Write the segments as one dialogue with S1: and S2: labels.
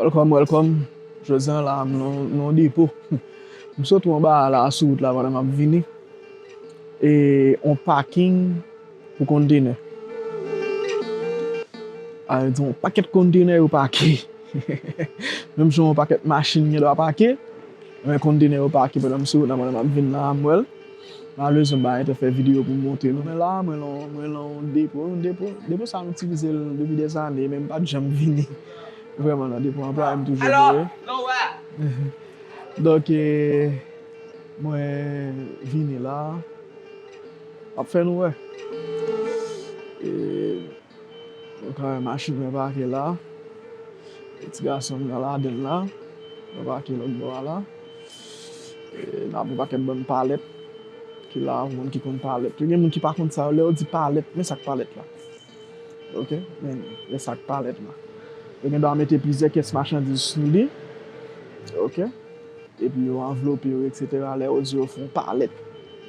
S1: Welcome welcome Jodi an la m nan depo M sot ou anba a la sou wout la pandan map vini e yon paking pou kontenè a yon pakèt kontenè yo pake menm jan yon pakèt machin gen dwa pake kontenè yo pake pandan m sou wout la pandan map vini la a m wèl. Malerezman bagay te fè video pou m montre nou men la mwen lan yon depo, yon depo, depo sa m itilize l depi dè zane men m pat janm vini vrèman nan depo anplwaye m toujou voye donk e mwen vini la m ap fè nou wè e. Nou ka wè machin mwen pake la. E ti gason m nan ladan l la. Mwen pake lòt bò a la. E nan gen yon pakèt bann palèt ki la. Pou moun ki konn palèt yo. Gen moun ki pa konn sa yo. Lè yo di palèt, men sa k palèt la. Ok, men men sa k palèt la. Yo gendwa mete plizyè kès machandiz sou li. Ok. Epi yo anvlope yo eksetera. Lè yo di yo fè yon palèt.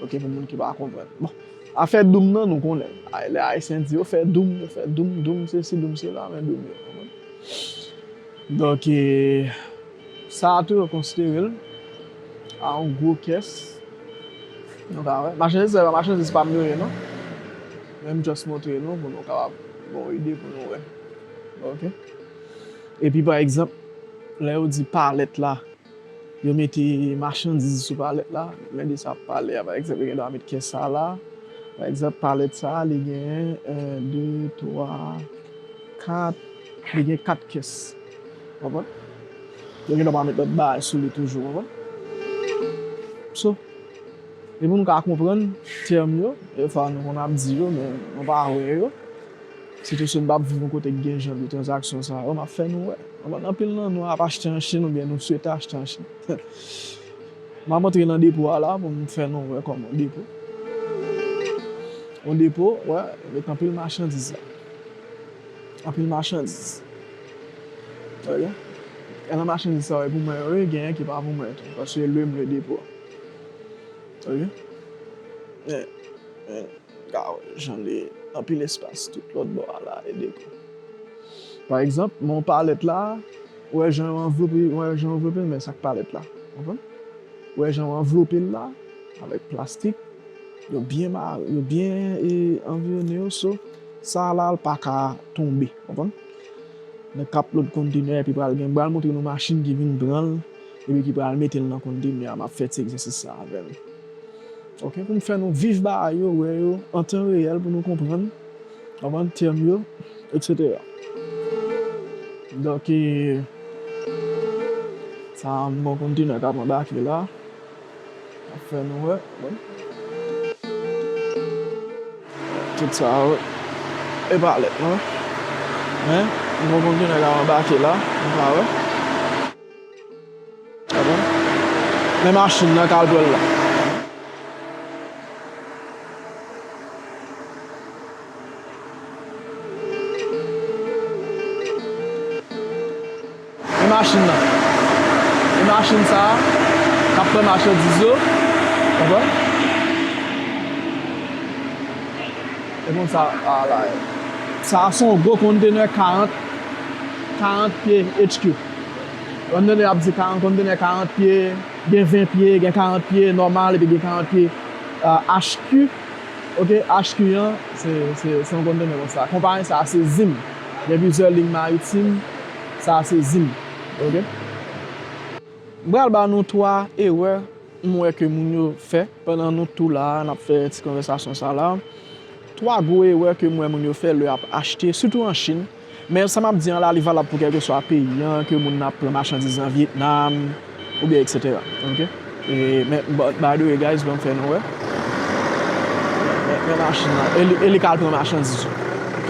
S1: Ok, pou moun ki pa konprann. Bon. Afè doum nan nou konnen lè ayisyen di yo fè doum yo fè doum doum sesi doum sela men doum yo konprann donk e sa a tou yo konsidere l a yon gwo kès nou ka wè machandiz sa yo pa machandiz pa m yo ye non men m just montre nou pou nou kapab gen yon ide pou nou wè ok epi pa egzanp lè yo di palèt la. Yo mete machandiz sou palèt la. Men de sa ap pale a. Pa egzanp, yo gen dwa met kè sa la. Pa egzanp, palèt sa a, li gen 1, 2, 3, 4. Li gen 4 kès. Ou konprann? Yo gen dwa pa met lòt bagay sou li toujou. Ou konprann? So, e pou nou ka konprann tèm yo, dèfwa nou konn ap di yo, men nou pa wè yo. Sitou si nou pa viv yon kote ki gen jan de tranzaksyon sa yo, m ap fè nou wè. Konprann? Anpil nan nou ap achte an Chin oubyen nou swete achte an Chin. M ap antre nan depo a la pou m fè nou wè kòman depo. Yon depo, wè, yo met anpil machandiz la. Anpil machandiz. Wè byen? Gen nan machandiz sa yo e pou mwen yo ye, genyen ki pa pou mwen tou. Paske lwe m lwe depo a. Wè byen? Wè. Gad jan li anpil espas tout lòt bò a la e depi. Pa egzanp, men yon palèt la, ou wè jan yo anvlope, ou wè jan yo anvlope l men sa k palèt la. Konprann? Ou wè jan yo anvlope l la avèk plastik, yo byen mare, yo byen e anvirone yo so sa la l pa ka tonbe. Konprann? Nèg k ap lòd kontenè epi pral gen, m pral montre nou machin ki vin pran l epi ki pral mete l nan kontenè a, m ap fè ti egzèsis sa avè nou. Ok pou nou fè nou viv bagay yo wè yo an tan reyèl pou nou konprann konprann tèm yo etc donk e sa bon kontenè kap anbake la ap fè nou wè tout sa yo epa lèt non men bon kontenè kap anbake la nou ka wè. Men machin nan caldwell la. Men machin nan. Men machin sa a k ap pran machandiz yo. Konprann? E konn sa a la ye. Sa a se yon gwo kontenè 40 pye HQ. Kondene ap di kondene 40 pye, gen 20 pye, gen 40 pye nòmal epi gen 40 pye HQ ok, HQ an se yon kondene konsa. Konpayi sa se Zim. Gen plizyè liy maritim, sa se Zim ok. M pral ba nou 3 erè m wè ke moun yo fè pandan nou tou la a n ap fè ti konvèsasyon sa la. 3 gwo erè ke m wè moun yo fè lè y ap achte sitou an Chine. Men sa map di an la li valab pou kelkeswa peyi an ke moun nan ap pran machandiz nan Vietnam oubyen etc ok men but by the way guys banm fè nou wè men machin nan e li ka al pran machandiz yo ok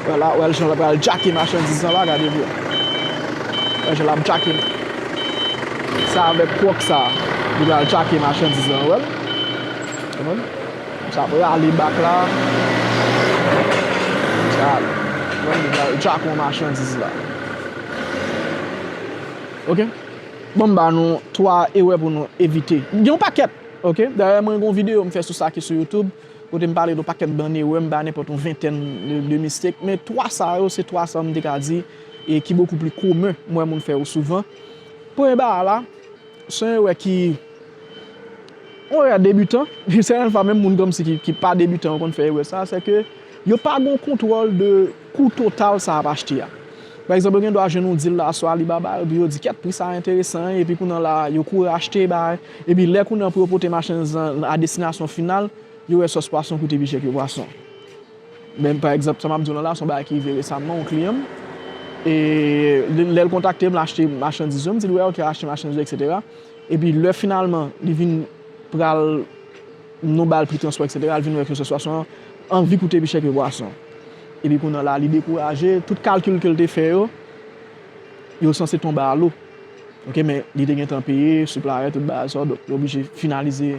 S1: wè la wè jan lap al jacke machandiz lan la gade byen wè jan lap jacke sa avèk kwòk sa li pral jacke machandiz lan wèl ou konprann. Sa ap rale bak la. Gade jako machandiz la. Ok. Bon m ba nou 3 erè pou nou evite. Gen yon pakèt. Ok. Dayè mwen gen yon videyo m fè sou sa ki sou YouTube. Kote m pale de yon pakèt bann erè. M bay nenpòt yon ventèn de mistake. Men 3 sa yo se 3 sa m te ka di e ki bokou pli komen m wè moun fè yo souvan. Premye bagay la. Se yon erè ki, yon erè debutan, yon sèten fwa menm moun komsi ki pa debutan yo konn fè erè sa, se ke yo pa gen yon kontwòl de kou total sa ap achte a. Pa egzanp, yo gen dwa jwenn yon dil la sou Alibaba, epi yo di kèt pri sa enteresan, epi kounye an la yo kouri achte bay, epi lè kounye an pou yo pote machandiz lan a destinasyon final, yo wè sòs pwason koute pi chè ke pwason. Men pa egzanp sa map diw lan la son bagay ki rive resamman yon kliyan m e lèl kontakte m l achte machandiz yo m dil wè ok achte machandiz yo etc epi lè finalman li vin pral nou bal pri transpò etc li vin wè ke sitiyasyon an anvi koute pi chè ke bwason epi kounye la li dekouraje tout kalkil kel te fè yo yo sanse tonbe a lo ok men li te gentan peye siplier tout bagay sa yo donk li oblije finalize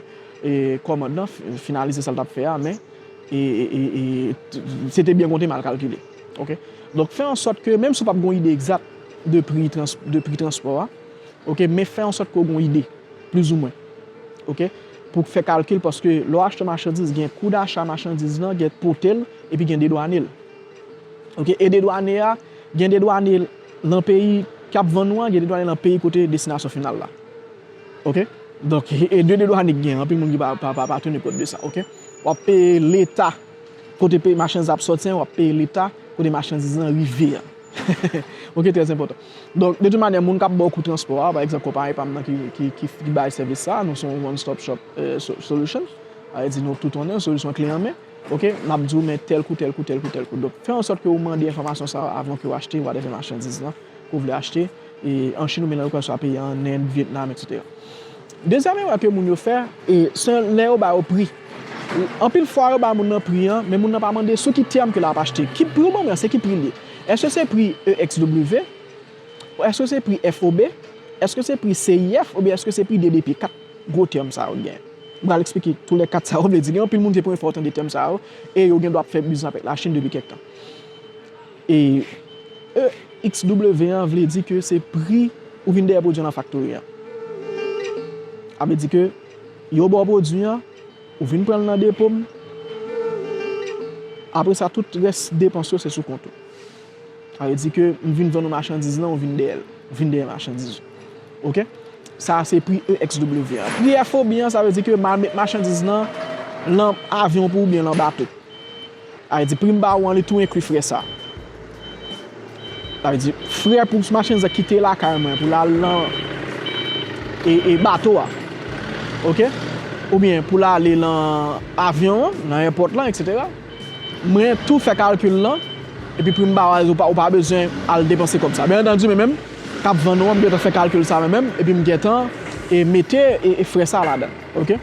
S1: kòmand lan finalize sal tap fè a men Se te byen konte mal kalkile. Ok. Donk fè an sòt ke menm si w pap gen yon ide egzat de pri transpò a, ok, men fè an sòt ke w gen yon ide, plis ou mwen. Ok. Pou fè kalkil paske lè w achte machandiz gen kou dacha machandiz lan, gen pote l, epi gen dedwane l. Ok. E dedwane a, gen dedwane nan peyi kap vann ou an, gen dedwane nan peyi kote destinasyon final la. Ok donk e de de dwane ki gen anpil moun ki pa teni kont de sa ok wap peye leta kote peyi machandiz ap soti an wap peye leta kote machandiz lan rive an ok trè enpòtan donk de tout manyè moun kap baw kou transpò a pa egzanp konpayi pam nan ki bay sèvis sa nou son one stop shop solution sa vle di nou tout anndan solisyon kle anmen ok nap diw men tèl kou tèl kou tèl kou tèl kou donk fè ansòt ke ou mande enfòmasyon sa avan ke ou achte whatever machandiz lan. ke w vle achte an Chine oubyen nan lokal sa peye an Inde, Vietnam etc. Dezyèm erè ke moun yo fè se lè yo ba yo pri. Anpil fwa yo ba moun nan pri an men moun nan pa mande sou ki tèm ke lap achte. Ki pri ou ban mwen an se ki pri li ye? Eske se pri EXW? Eske se pri FOB? Eske se pri CIF oubyen eske se pri DDP? 4 gwo tèm sa yo gen. M pral eksplike tou lè 4 sa yo vle di. Gen anpil moun se premye fwa yo tande tèm sa yo e yo gen dwa ap fè biznis avèk la Chine depi kèk tan. E EXW an vle di ke se pri ou vin dèyè pwodwi an nan faktori an. A vle di ke yo ba w pwodwi an, ou vin pran l nan depo m, apre sa tout rès depans yo se sou kont ou. A vle di ke m vin vann ou machandiz lan, ou vin dèyè l, ou vin dèyè machandiz ou. Ok? Sa a se pri EXW an. Pri FOB an, sa vle di ke m al met machandiz lan nan avyon pou ou oubyen lan bato. Avè di pri m ba ou an li tou enkli frè sa. Avè di frè pou machandiz la kite lakay mwen pou l al lan e bato a. Ok. Oubyen pou l ale lan avyon an, lan èpòt lan eksetera. Mwen tou fè kalkil lan epi pri m ba ou a ou pa bezwen al depanse kòb sa. Byen antandi mwen menm k ap vann ou an m gentan fè kalkil sa mwen menm epi m gentan mete frè sa ladan. Ok.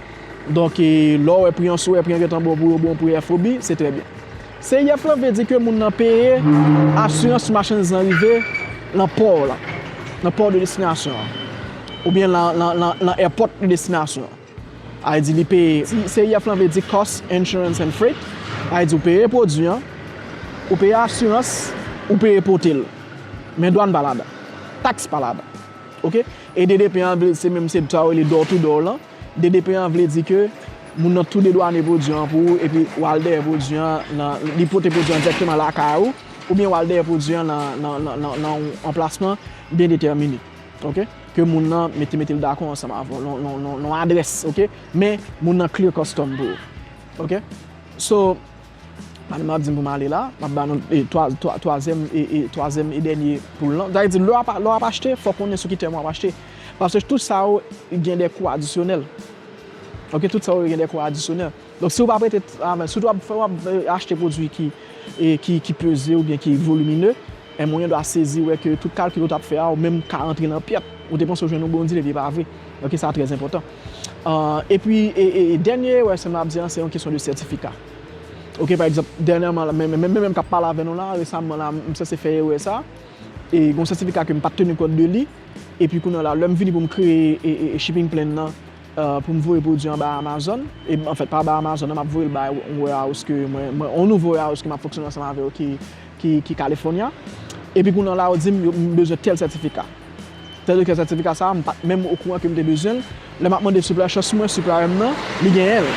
S1: Donk lè w wè pri an sou wè pri an gen tan bon pou yo bon pou FOB, se trè byen. CIF lan vle di ke moun nan peye asirans sou machandiz lan rive lan pò w lan, lan pò de destinasyon an. Oubyen lan èpòt de destinasyon an. A vle di li peye, CIF lan vle di Cost, Insurance and Freight, a vle di ou peye pwodui an, ou peye asirans, ou peye pote l. Men dwàn pa ladan. Taks pa ladan. Ok? E DDP an vle se menm se sa yo rele door to door lan. DDP an vle di ke moun nan tou dedwane pwodui an pou ou epi w al dèyè pwodui an nan, li pote pwodui an dirèkteman lakay ou oubyen w al dèyè pwodui an nan yon anplasman byen detèmine ok, ke moun nan mete mete l dakò ansanm avè w nan yon adrès ok, men moun nan clear custom pou ou ok. So Pandan map dim pou m ale la, map ba nou twazyèm e dènye poul lan. Sa vle di lè wap achte, fòk konnen sou ki tèm wap achte. Paske tout sa yo gen de kou adisyonèl. Ok, tout sa yo gen de kou adisyonèl. Donk si w pa prete avans, sitou wap achte pwodui ki peze oubyen ki volimine. Em ou yon dwa sezi wè ke tout kalkil ou tap fè a ou menm ka antre nan pyèt. Ou te panse ou jwenn yon bon dil epi e pa vre. Ok sa trè enpòtan. Epi dènye erè sem la ap di an se yon kesyon de sètifika. Ok pa egzanp dènyèman la menm menm kap pale avè nou la resamman la m sanse fè erè sa e gon sètifika kem pat teni kont de li epi kounye la lèm vini poum kreye shipping plan nan poum voye pwodui an bay Amazon anfèt pa bay Amazon nan map voyel bay yon warehouse ke mwen yon nouvo warehouse ke map fonksyone ansanm avèl ki ki California epi kounye la yo dim yo m bezwen tèl sètifika tèl kèl sètifika sa m pat menm okouran ke m te bezwen l lè map mande suplè chans mwen suplè m nan li genyen l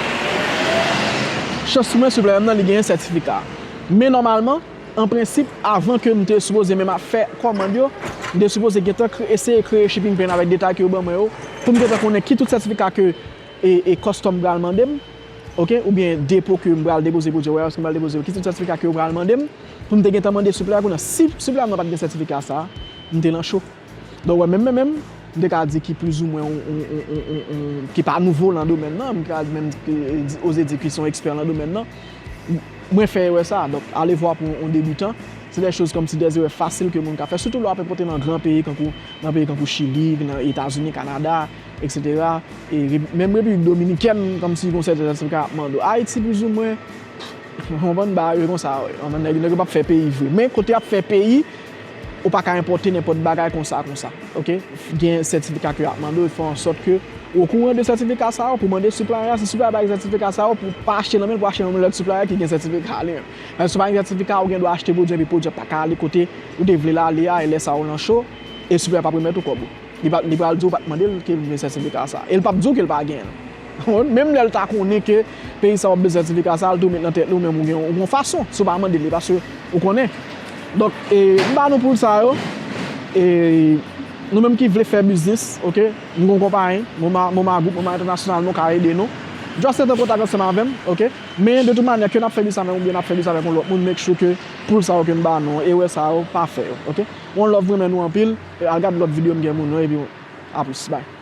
S1: chans mwen suplè m nan li genyen sètifika men nòmalman an prensip avan ke m te sipoze menm ap fè kòmand yo m te sipoze gentan eseye kreye shipping plan avèk detay ke yo ban mwen yo pou m gentan konnen ki tout sètifika ke e kòstòm pral mande m. Ok ou gen depo ke m pral depoze pou Joe Warehouse ke m pral depoze yo? Ki tip sètifika ke yo pral mande m pou m te gentan mande suplè a kounye a? Si suplè a mwen pat gen sètifika sa a, m te lan cho. Donk ou wè menm mwen menm, m te ka di ki plizoumwen yon ki pa nouvo lan domèn nan, m te ka menm oze di ki son ekspè lan domèn nan, mwen fè erè sa a. Donk alevwa pou yon debutan, se dè choz kòmsi dè erè fasil ke moun ka fè sitou lè w ape pote nan gran peyi kankou nan peyi kankou Chili, nan Etazini, Kanada. Etc e menm repiblik dominikèn komsi gon sèten zantray kap mande ayiti plizoumwen ou konprann bagay yo konsa wi ou konprann nèg yo pap fè peyi vre men kote yap fè peyi ou paka enpòte nenpòt bagay konsa konsa ok gen sètifika ke yap mande ou fè ansòt ke ou okouran de sètifika sa yo pou mande siplay a si siplay a pa gen sètifika sa yo pou pa achte nan menl pou achte nan menl lòt siplay ki gen sètifika li an paske si pa gen sètifika ou gen dwa achte pwodwi an epi pwodwi an paka ale kote ou te vlel ale a e lè sa ou nan cho e siplay a pap remèt ou kòb ou. Li pral di ou pa t mande l ke l gen sètifika sa a. E l pap di ou ke l pa gen l. Menm lè l ta konnen ke peyi sa w ap bezwen sètifika sa a, l tou met nan tèt li ou menm ou gen yon fason si w pa mande li paske ou konnen. Donk, m ba nou poul sa yo. E nou menm ki vle fè biznis, ok, m gen yon konpayi, Moma Group, Moma Entènasyonal, nou ka ede nou. Just ret an kontak ansanm avè m, ok. Men de tout manyè, ke n ap fè biznis avè m oubyen n ap fè biznis avèk yon lòt moun, make sure ke poul sa yo ke m ba nou, erè sa yo, pa fè yo, ok. One love, m renmen nou anpil. Al gad lòt video m gen moun yo epi a plis bye.